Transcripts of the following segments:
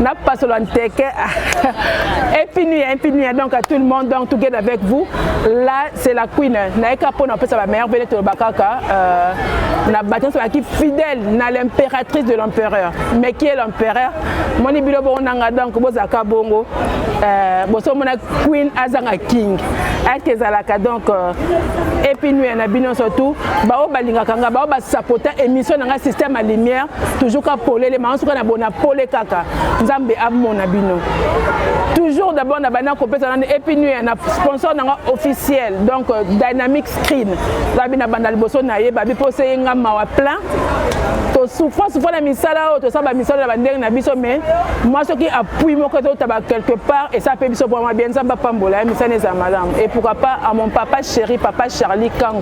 na pasolo nteke epinuya epinuya donc à tout le monde donc together avec vous là c'est la queen naika mpona kopesa bameilleur vele toloba kaka euh, na bato nyonso bazalaki fidèle na l'impératrice de l'empereur mais qui est l'empereur moni bino bongo nanga donc bozalaka bongo euh, bosomona queen azanga king eke ezalaka donc euh, epinuya na bino surtout baoyo balingaka nga baoyo basapota émission na nga système ya lumière toujours ka polele mama suka na bona pole kaka nzambe amona bino toujours d'abord na bana kopesa nani epinuya na sponsor nanga officiel donc euh, dynamic screen babi na banda liboso na ye babi mpo se ye nga mawa plein tosouffra souffra na misala oyo tosala bamisala na bandenge na biso mais mwa soki appui moko ezotaba quelque part esa mpe biso vraimen bien nzambe apambola ye misana ezala malamu et pourquoi pas à mon papa chéri papa charlie kango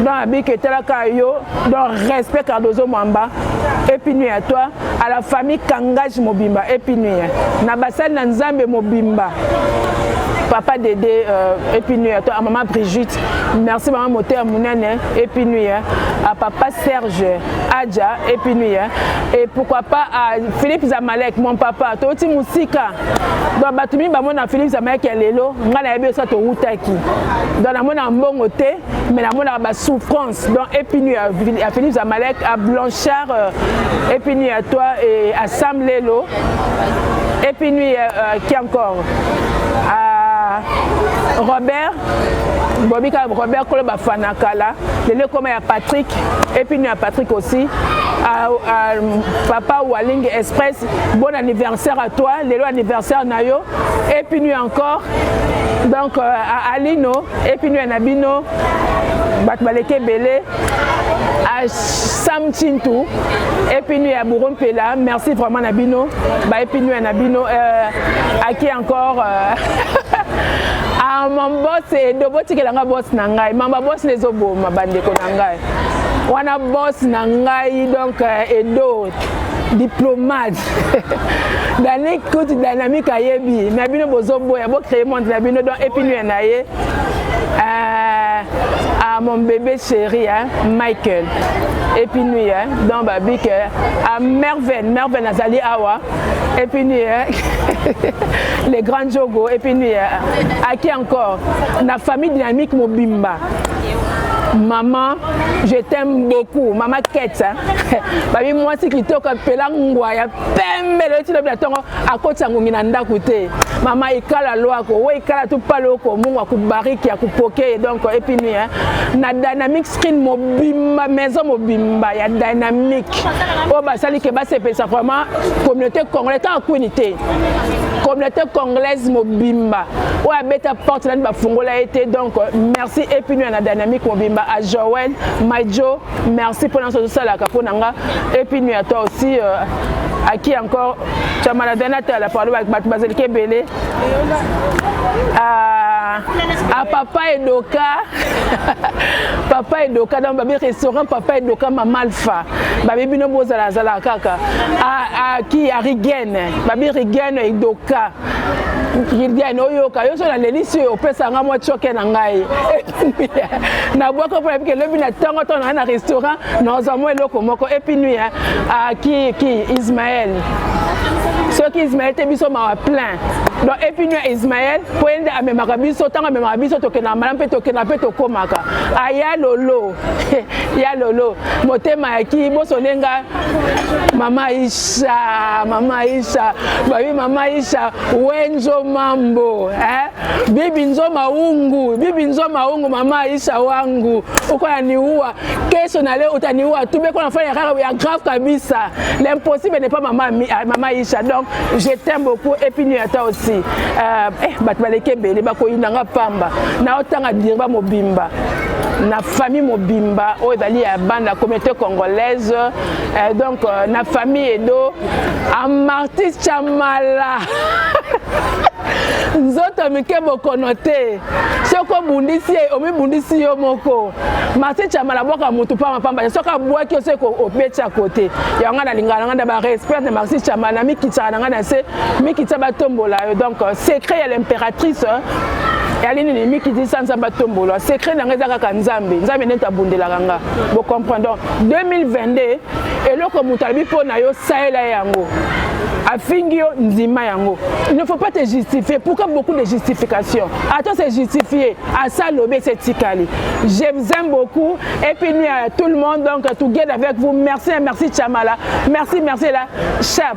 donc abiki etalaka yo donc respect cardozo mwamba epinue ya toi à la famille kangage mobimba epinue na basali na nzambe mobimba papa dede euh, epinue ya toi à maman brigitte merci maman moteya monene epinue à papa serge adja epinue et pourquoi pas à philippe zamalek mon papa toti mosika donc bato mingi bamona philips amayaki ya lelo ngai nayebi osa towutaki donc namonaka mbongo te mais namonaka basouffrance donc epinu ya philips amalek a blanchard euh, epinu ya toi et à sam lelo epinu ya euh, qui encore à robert bobi kaka robert kolo bafana kala lelo ekoma ya patrick epinu ya patrick aussi à, à, papa waling express Bon anniversaire à toi, lelo anniversaire na yo. Et puis nous encore. Donc euh, à Alino et puis nous à Nabino. Bat baleke belé. À Sam Chintou et puis nous à Bouron Pela. Merci vraiment Nabino. Bah et puis nous à Nabino euh, à qui encore euh, Ah mon boss et dobo tikela nga boss na ngai. Mamba boss les oboma bandeko na ngai. wana boss na ngai donc euh, edo diplomate dane kuti dynamique ayebi na bino bozoboya bocreye monde na bino donc epinue na ye euh, à mon bébé chéri hein, michael epinue hein, donc babike euh, à merveille merveille nazali awa epinue hein, le grand jogo epinue hein, à qui encore na famille dynamique mobimba maman je t'aime beaucoup mama kete babi mwasi kitoko apela ngwa ya pembe lelo ti lobi na ntongo akotisa ngungi na ndako te mama ikala lwako we ikala tu paloko mungu akubariki akupoke donc epuis nui na dynamique screen mobimba maison mobimba ya dynamique oyo basali ke basepelisa vraiment communauté congolais kaka kwini te communauté congolaise mobimba oyo abeta porte nani bafungola ye te donc merci epino ya na dynamique mobimba a joel maijo merci mpo na nso ozosalaka mpo na nga epino ya toi aussi euh, à qui encore Chamaladana Tala parle avec Batbazel Kebele à, à Papa Edoka Papa Edoka dans le restaurant Papa Edoka Maman Alpha Babi Bino Bozala Zala Kaka à, à qui à Rigen Babi Rigen Edoka Viviane oyoka yo so nalelisi yo opesa nga mwa coke na ngai nabwaki mpo nayebi ke lobi na ntongo ntongo nanga na restaurant nazwa mwa eloko moko epi nui ah, ki ki ismael soki ismael te biso mawa plein donc epi nui ya ismael mpo ye nde amemaka biso ntango amemaka biso tokendaka malamu mpe tokendaka mpe tokomaka aya lolo ya lolo motema ya ki bosone nga mama isha mama isha babi mama isha wenzo mambo eh? bibi nzo maungu bibi nzo maungu mama isha wangu ukoya niua kesho na leo utaniua tu beko nafanya kaka ya grave kabisa l'impossible n'est pas mama, ah, mama isha donc je t'aime beaucoup et puis nuit à toi aussi euh, eh, bato baleki ebele bakoyina nga pamba naotanga dirba mobimba na famille mobimba oyo ezali ya bana communauté congolaise eh, donc euh, na famille edo amarti chamala nzoto mike bokono te soki obundisi ye omibundisi yo moko marti chamala abwaka motu pamba pamba te soki abwaki yo soki obeti ya kote yango ngai nalingaka na ngai na barespect na marti chamala mikitsaka na ngai na se mikitsa batombola yo donc euh, secret ya l'impératrice euh, yali nini mikitisa nzambe atombolwa secret na ngai eza kaka nzambe nzambe neti abundelaka nga bocomprendre donc 2022 eloko moto alobi mpo na yo salela ye yango afingi yo ndima yango il ne faut pas te justifier pourquoi beaucoup de justification ata se justifier asa lobe se tikali je vous aime beaucoup et puis nuit à tout le monde donc together avec vous merci et merci chamala merci merci la chap